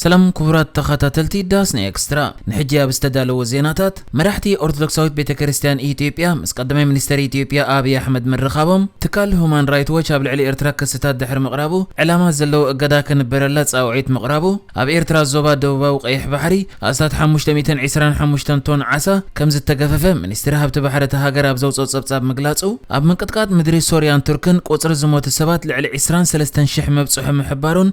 ሰላም ክቡራት ተኸታተልቲ ዳስ ን ኤክስትራ ንሕጂ ኣብ ዝተዳለወ ዜናታት መራሕቲ ኦርቶዶክሳዊት ቤተክርስትያን ኢትዮጵያ ምስ ቀዳማይ ሚኒስተር ኢትዮጵያ ኣብይ ኣሕመድ ምርኻቦም ትካል ሁማን ራይት ዎች ኣብ ልዕሊ ኤርትራ ክስታት ድሕሪ ምቕራቡ ዕላማ ዘለዎ እገዳ ክንበረላ ጻውዒት ምቕራቡ ኣብ ኤርትራ ዞባ ደቡባዊ ቀይሕ ባሕሪ ኣስታት ሓሙሽተ ሚእትን ዕስራን ሓሙሽተን ቶን ዓሳ ከምዝተገፈፈ ሚኒስትሪ ሃብቲ ባሕሪ እታ ሃገር ኣብ ዘውጽኦ ጸብጻብ ምግላጹ ኣብ ምንቅጥቃጥ ምድሪ ሶርያን ቱርክን ቁጽሪ ዝሞቱ ሰባት ልዕሊ ዕስራን ሰለስተን ሽሕ ምብጽሑ ምሕባሩን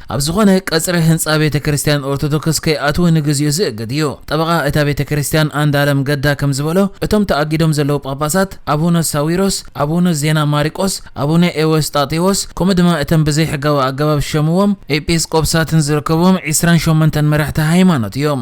ኣብ ዝኾነ ቀጽሪ ህንጻ ቤተ ክርስቲያን ኦርቶዶክስ ከይኣትዉ ንግዚኡ ዝእግድ እዩ። ጠበቓ እታ ቤተ ክርስቲያን ኣንዳለም ገዳ ከም ዝበሎ እቶም ተኣጊዶም ዘለዉ ጳጳሳት ኣቡነ ሳዊሮስ፣ ኣቡነ ዜና ማሪቆስ፣ ኣቡነ ኤዎስጣቴዎስ ከምኡ ድማ እተን ብዘይሕጋዊ ኣገባብ ዝሸምዎም ኤጲስቆፕሳትን ዝርከብዎም ዒስራን ሸሞንተን መራሕቲ ሃይማኖት እዮም።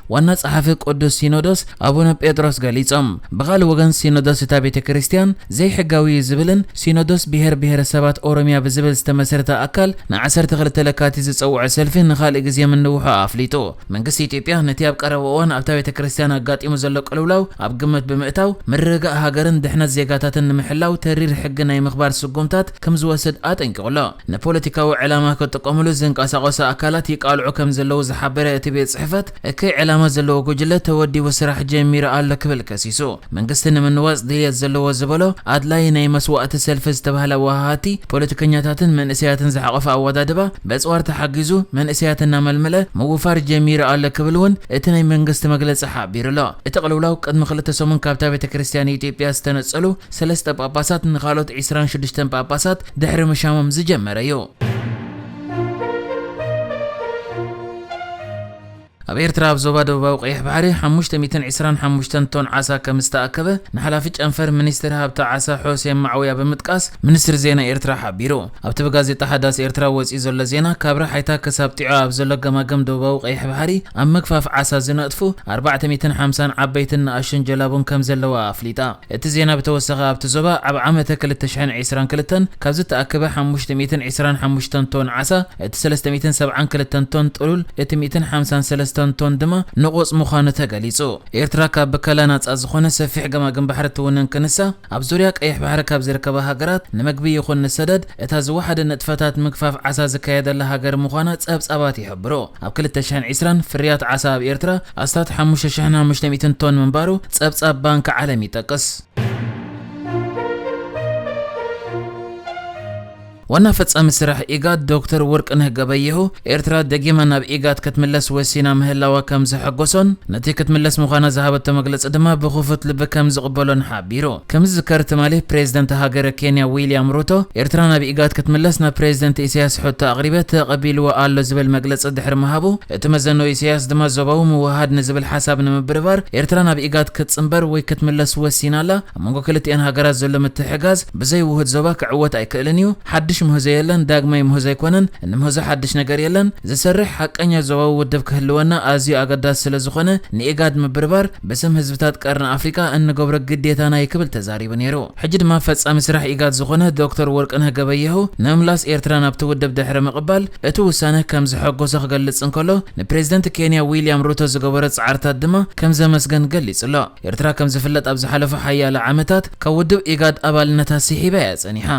ዋና ጸሓፊ ቅዱስ ሲኖዶስ ኣቡነ ጴጥሮስ ገሊጾም። ብኻልእ ወገን ሲኖዶስ እታ ቤተ ክርስቲያን ዘይሕጋዊ እዩ ዝብልን ሲኖዶስ ብሄር ብሄረ ሰባት ኦሮሚያ ብዝብል ዝተመስረተ ኣካል ን ዓሰርተ ክልተ ለካቲት ዝጸውዖ ሰልፊ ንኻልእ ግዜ ምንውሑ ኣፍሊጡ። መንግስቲ ኢትዮጵያ ነቲ ኣብ ቀረባ እዋን ኣብታ ቤተ ክርስቲያን ኣጋጢሙ ዘሎ ቅልውላው ኣብ ግምት ብምእታው ምርግጋእ ሃገርን ድሕነት ዜጋታትን ንምሕላው ተሪር ሕጊ ናይ ምኽባር ስጉምታት ከም ዝወስድ ኣጠንቂቑ ኣሎ። ንፖለቲካዊ ዕላማ ክጥቀሙሉ ዝንቀሳቐሱ ኣካላት ይቃልዑ ከም ዘለዉ ዝሓበረ እቲ ቤት ጽሕፈት፣ እከይ ዕላማ ዘለዎ ጉጅለ ተወዲቡ ስራሕ ጀሚሩ ኣሎ ክብል ከሲሱ። መንግስቲ ንምንዋጽ ድልየት ዘለዎ ዝበሎ ኣድላዪ ናይ መስዋእቲ ሰልፊ ዝተባህለ ወሃሃቲ ፖለቲከኛታትን መንእሰያትን ዝሓቖፈ ኣወዳድባ በጽዋር ተሓጊዙ መንእሰያት እናመልመለ ምውፋር ጀሚሩ ኣሎ ክብል እውን እቲ ናይ መንግስቲ መግለጺ ሓቢሩ ኣሎ። እቲ ቅልውላው ቅድሚ ክልተ ሰሙን ካብታ ቤተ ክርስቲያን ኢትዮጵያ ዝተነጸሉ ሰለስተ ጳጳሳት ንኻልኦት ዕስራን ሽዱሽተን ጳጳሳት ድሕሪ ምሻሞም ዝጀመረ እዩ። ኣብ ኤርትራ ኣብ ዞባ ደቡባዊ ቀይሕ ባሕሪ ሓሙሽተ ሚእትን ዕስራን ሓሙሽተን ቶን ዓሳ ከም ዝተኣከበ ንሓላፊ ጨንፈር ሚኒስትሪ ሃብቲ ዓሳ ሖሴን ማዕውያ ብምጥቃስ ሚኒስትሪ ዜና ኤርትራ ሓቢሩ። ኣብቲ ብጋዜጣ ሓዳስ ኤርትራ ወጺኡ ዘሎ ዜና፣ ካብ ራሓይታ ክሳብ ጢዖ ኣብ ዘሎ ገማግም ደቡባዊ ቀይሕ ባሕሪ፣ ኣብ ምግፋፍ ዓሳ ዝነጥፉ ኣርባዕተ ሚእትን ሓምሳን ዓበይትን ንኣሽቱን ጀላቡን ከምዘለዋ ኣፍሊጣ። እቲ ዜና ብተወሳኺ ኣብቲ ዞባ ኣብ ዓመተ ክልተ ሽሕን ዒስራን ክልተን ካብ ዝተኣከበ ሓሙሽተ ሚእትን ዒስራን ሓሙሽተን ቶን ዓሳ እቲ ሰለስተ ሚእትን ሰብዓን ክልተን ቶን ጥሉል እቲ ሚእትን ሓምሳን ሰለስተን ቶን ድማ ንቑጽ ምዃኑ ተገሊጹ። ኤርትራ ካብ ብከላ ናጻ ዝኾነ ሰፊሕ ገማግም ባሕሪ እትውንን ክንሳ፣ ኣብ ዙርያ ቀይሕ ባሕሪ ካብ ዝርከባ ሃገራት ንምግቢ ይኹን ንሰደድ እታ ዝወሓደ ንጥፈታት ምግፋፍ ዓሳ ዝካየደላ ሃገር ምዃና ጸብጻባት ይሕብሩ። ኣብ ክልተ ሽሕን ዕስራን፣ ፍርያት ዓሳ ኣብ ኤርትራ ኣስታት ሓሙሽተ ሽሕን ሓሙሽተ ሚእትን ቶን ምንባሩ ጸብጻብ ባንክ ዓለም ይጠቅስ። ዋና ፈፃሚ ስራሕ ኢጋድ ዶክተር ወርቅነህ ገበየሁ፣ ኤርትራ ደጊማ ናብ ኢጋድ ክትምለስ ወሲና ምህላዋ ከምዘሐጎሶን ነቲ ክትምለስ ምዃና ዝሃበቶ መግለፂ ድማ ብክፉት ልቢ ከምዝቕበሎን ሓቢሩ። ከምዝዝከር ትማሊ ፕሬዝደንት ሃገረ ኬንያ ዊልያም ሩቶ ኤርትራ ናብ ኢጋድ ክትምለስ ናብ ፕሬዝደንት ኢሳያስ ሕቶ ኣቕሪበ ተቐቢልዎ ኣሎ ዝብል መግለፂ ድሕሪ ምሃቡ እቲ መዘኖ ኢሳያስ ድማ ዞባዊ ምውህሃድ ንዝብል ሓሳብ ንምብርባር ኤርትራ ናብ ኢጋድ ክትፅምበር ወይ ክትምለስ ወሲና ኣላ ኣብ መንጎ ክልቲኤን ሃገራት ዘሎ ምትሕጋዝ ብዘይ ውሁድ ዞባ ክዕወት ኣይክእልን እዩ። ሓድሽ ምህዞ የለን፣ ዳግማይ ምህዞ ኣይኮነን፣ እንምህዞ ሓድሽ ነገር የለን። ዝሰርሕ ሓቀኛ ዞባዊ ውድብ ክህልወና ኣዝዩ ኣገዳሲ ስለዝኾነ ንኢጋድ ምብርባር ብስም ህዝብታት ቀርኒ ኣፍሪቃ እንገብሮ ግዴታና እዩ ክብል ተዛሪቡ ነይሩ። ሕጂ ድማ ፈጻሚ ስራሕ ኢጋድ ዝኾነ ዶክተር ወርቅነህ ገበየሁ ንምምላስ ኤርትራ ናብቲ ውድብ ድሕሪ ምቕባል እቲ ውሳነ ከምዘሐጎሶ ክገልጽ እንከሎ ንፕሬዝደንት ኬንያ ዊልያም ሩቶ ዝገበሮ ጻዕርታት ድማ ከምዘመስገን ገሊጹ'ሎ። ኤርትራ ከም ዝፍለጥ ኣብ ዝሓለፉ ሓያሎ ዓመታት ካብ ውድብ ኢጋድ ኣባልነታ ስሒባ እያ ጸኒሓ።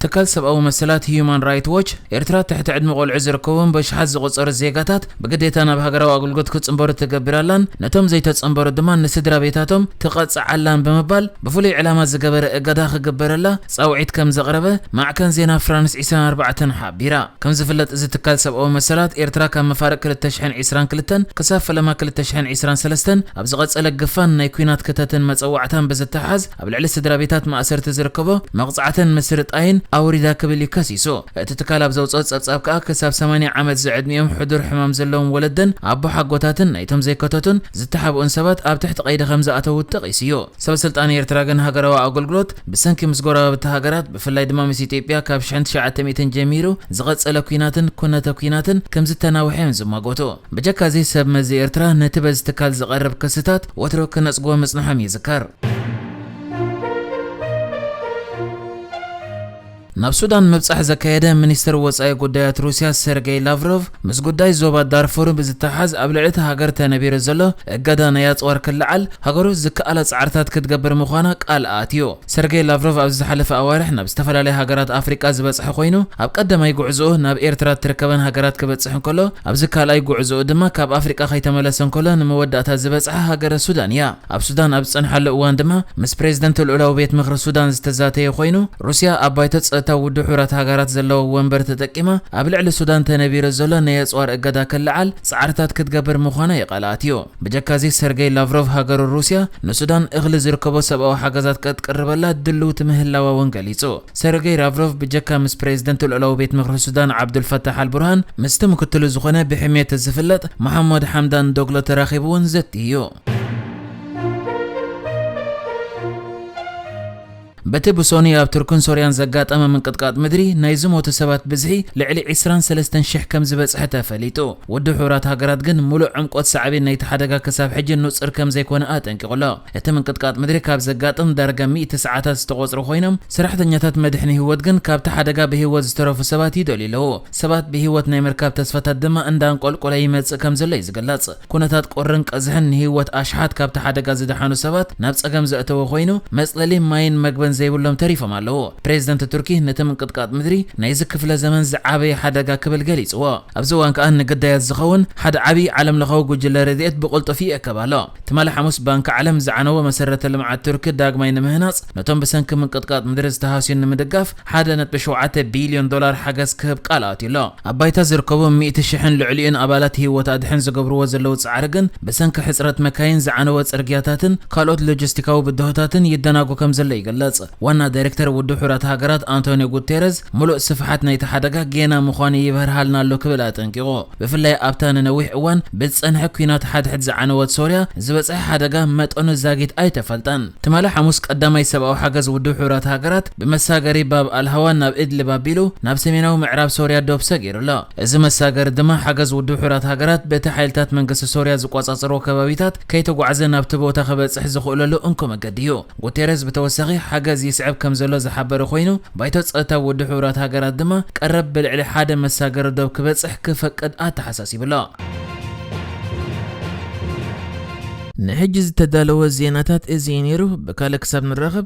ትካል ሰብኣዊ መሰላት ህዩማን ራይት ዎች፣ ኤርትራ ትሕቲ ዕድመ ቆልዑ ዝርከቦም በሽሓት ዝቑጸሩ ዜጋታት ብግዴታ ናብ ሃገራዊ ኣገልግሎት ክጽንበሩ ትገብር ኣላን ነቶም ዘይተጸንበሩ ድማ ንስድራ ቤታቶም ትቐጽዕ ኣላን ብምባል ብፍሉይ ዕላማ ዝገበረ እገዳ ክግበረላ ጻውዒት ከም ዘቕረበ ማዕከን ዜና ፍራንስ ዒስራን ኣርባዕተን ቢራ። ከም ዝፍለጥ እዚ ትካል ሰብኣዊ መሰላት፣ ኤርትራ ካብ መፋርቕ ክልተ ሽሕን ዒስራን ክልተን ክሳብ ፈለማ ክልተ ሽሕን ዒስራን ሰለስተን ኣብ ዝቐጸለ ግፋን ናይ ኲናት ክተትን መጸዋዕታን ብዝተሓሓዝ ኣብ ልዕሊ ስድራቤታት ማእሰርቲ ዝርከቦ መቕጻዕትን ምስርጣይን ኣውሪዳ ክብል እዩ ከሲሱ። እቲ ትካል ኣብ ዘውጽኦ ጸብጻብ ከኣ ክሳብ ሰማንያ ዓመት ዝዕድሚኦም ሕዱር ሕማም ዘለዎም ወለደን ኣቦሓጎታትን ናይቶም ዘይከተቱን ዝተሓብኡን ሰባት ኣብ ትሕቲ ቀይዲ ከም ዝኣተዉ ጠቒሱ እዩ። ሰበስልጣን ኤርትራ ግን ሃገራዊ ኣገልግሎት ብሰንኪ ምስ ጎረባብቲ ሃገራት ብፍላይ ድማ ምስ ኢትዮጵያ ካብ ሽሕን ትሽዓተ ሚእትን ጀሚሩ ዝቐጸለ ኲናትን ኩነተ ኲናትን ከምዝተናውሐ እዮም ዝማጎቱ። ብጀካ'ዚ ሰብ መዚ ኤርትራ ነቲ በዚ ትካል ዝቐርብ ክስታት ወትሩ ክነጽግዎ ምጽንሖም ይዝከር። ናብ ሱዳን ምብጻሕ ዘካየደ ሚኒስተር ወጻኢ ጉዳያት ሩስያ ሰርገይ ላቭሮቭ፣ ምስ ጉዳይ ዞባ ዳርፉር ብዝተሓሓዝ ኣብ ልዕሊ እታ ሃገር ተነቢሩ ዘሎ እገዳ ናይ ኣጽዋር ክለዓል ሃገሩ ዝከኣላ ጻዕርታት ክትገብር ምዃና ቃል ኣእትዩ። ሰርገይ ላቭሮቭ ኣብ ዝሓለፈ ኣዋርሕ ናብ ዝተፈላለያ ሃገራት ኣፍሪቃ ዝበጽሐ ኮይኑ፣ ኣብ ቀዳማይ ጉዕዞኡ ናብ ኤርትራ እትርከበን ሃገራት ክበጽሕ እንከሎ ኣብዚ ካልኣይ ጉዕዞኡ ድማ ካብ ኣፍሪቃ ከይተመለሰ እንከሎ ንመወዳእታ ዝበጽሓ ሃገረ ሱዳን እያ። ኣብ ሱዳን ኣብ ዝጸንሓሉ እዋን ድማ ምስ ፕሬዝደንት ልኡላዊ ቤት ምኽሪ ሱዳን ዝተዛተየ ኮይኑ፣ ሩስያ ኣብ ባይቶ ጸጥታ ውድብ ሕቡራት ሃገራት ዘለዋ ወንበር ተጠቂማ ኣብ ልዕሊ ሱዳን ተነቢሩ ዘሎ ናይ ኣጽዋር እገዳ ክለዓል ጻዕርታት ክትገብር ምዃና ይቓልኣት እዩ። ብጀካ'ዚ ሰርገይ ላቭሮቭ ሃገሩ ሩስያ ንሱዳን እኽሊ ዝርከቦ ሰብኣዊ ሓገዛት ቀትቅርበላ ድልውቲ ምህላዋ'ውን ገሊጹ። ሰርገይ ራቭሮቭ ብጀካ ምስ ፕሬዝደንት ልኡላዊ ቤት ምኽሪ ሱዳን ዓብዱል ፋታሕ ኣል ቡርሃን ምስቲ ምክትሉ ዝኾነ ብሕምየት ዝፍለጥ መሓሞድ ሓምዳን ዶግሎ ተራኺቡ'ውን ዘትዩ እዩ። በቲ ብሶኑይ ኣብ ቱርክን ሶርያን ዘጋጠመ ምንቅጥቃጥ ምድሪ ናይ ዝሞቱ ሰባት ብዝሒ ልዕሊ ዕስራን ሰለስተን ሽሕ ከም ዝበጽሐ ተፈሊጡ። ውድብ ሕቡራት ሃገራት ግን ምሉእ ዕምቆት ሳዕቤን ናይቲ ሓደጋ ክሳብ ሕጂ ንጹር ከም ዘይኮነ ኣጠንቂቑ ኣሎ። እቲ ምንቅጥቃጥ ምድሪ ካብ ዘጋጥም ዳርጋ ሚእቲ ሰዓታት ዝተቖጽሩ ኮይኖም፣ ሰራሕተኛታት መድሕን ህይወት ግን ካብቲ ሓደጋ ብህይወት ዝተረፉ ሰባት ይደልዩ ኣለዉ። ሰባት ብህይወት ናይ ምርካብ ተስፋታት ድማ እንዳንቆልቆለ ይመጽእ ከም ዘሎ'ዩ ዝግለጽ። ኩነታት ቁርን ቀዝሕን ንህይወት ኣሽሓት ካብቲ ሓደጋ ዝደሓኑ ሰባት ናብ ጸገም ዘእተወ ኮይኑ፣ መጽለሊ፣ ማይን መግብን ዘይብሎም ተሪፎም ኣለዉ። ፕሬዝደንት ቱርኪ ነቲ ምንቅጥቃጥ ምድሪ ናይዚ ክፍለ ዘመን ዝዓበየ ሓደጋ ክብል ገሊጽዎ። ኣብዚ እዋን ከኣ ንግዳያት ዝኸውን ሓደ ዓብዪ ዓለምለኻዊ ጉጅለ ረድኤት ብቕልጡፍ ይእከብ ኣሎ። ትማሊ ሓሙስ ባንኪ ዓለም ዝዓነወ መሰረተ ልምዓት ቱርኪ ዳግማይ ንምህናጽ ነቶም ብሰንኪ ምንቅጥቃጥ ምድሪ ዝተሃስዩን ንምድጋፍ ሓደ ነጥቢ ሸውዓተ ቢልዮን ዶላር ሓገዝ ክህብ ቃል ኣትዩ'ሎ። ኣብ ባይታ ዝርከቡ ሚእቲ ሽሕን ልዕሊኡን ኣባላት ህይወት ኣድሕን ዝገብርዎ ዘለዉ ጻዕሪ ግን ብሰንኪ ሕጽረት መካይን፣ ዝዓነወ ጽርግያታትን ካልኦት ሎጂስቲካዊ ብድሆታትን ይደናጎ ከምዘሎ ይግለጽ። ዋና ዳይሬክተር ውድብ ሕቡራት ሃገራት ኣንቶንዮ ጉቴረዝ ምሉእ ስፍሓት ናይቲ ሓደጋ ጌና ምዃኑ ይብህርሃልና ኣሎ ክብል ኣጠንቂቑ። ብፍላይ ኣብታ ንነዊሕ እዋን ብዝጸንሐ ኲናት ሓድሕድ ዝዓነወት ሶርያ ዝበጽሐ ሓደጋ መጠኑ ዛጊት ኣይተፈልጠን። ትማሊ ሓሙስ ቀዳማይ ሰብኣዊ ሓገዝ ውድብ ሕቡራት ሃገራት፣ ብመሳገሪ ባብ ኣል-ሃዋን ናብ ኢድሊብ ኣቢሉ ናብ ሰሜናዊ ምዕራብ ሶርያ ዶብ ሰጊሩ ኣሎ። እዚ መሳገሪ ድማ ሓገዝ ውድብ ሕቡራት ሃገራት በቲ ሓይልታት መንግስቲ ሶርያ ዝቆጻጸርዎ ከባቢታት ከይተጓዕዘ ናብቲ ቦታ ክበጽሕ ዝኽእለሉ እንኮ መገዲ እዩ። ጉቴሬዝ ብተወሳኺ ሓገዝ ይስዕብ ከምዘሎ ዝሓበረ ኮይኑ፣ ባይቶ ጸጥታ ውድብ ሕቡራት ሃገራት ድማ ቀረብ ብልዕሊ ሓደ መሳገሪ ዶብ ክበጽሕ ክፈቅድ ኣተሓሳሲቡ ኣሎ። ንሕጂ ዝተዳለወ ዜናታት እዚ እዩ ነይሩ። ብካልእ ክሳብ ንራኸብ!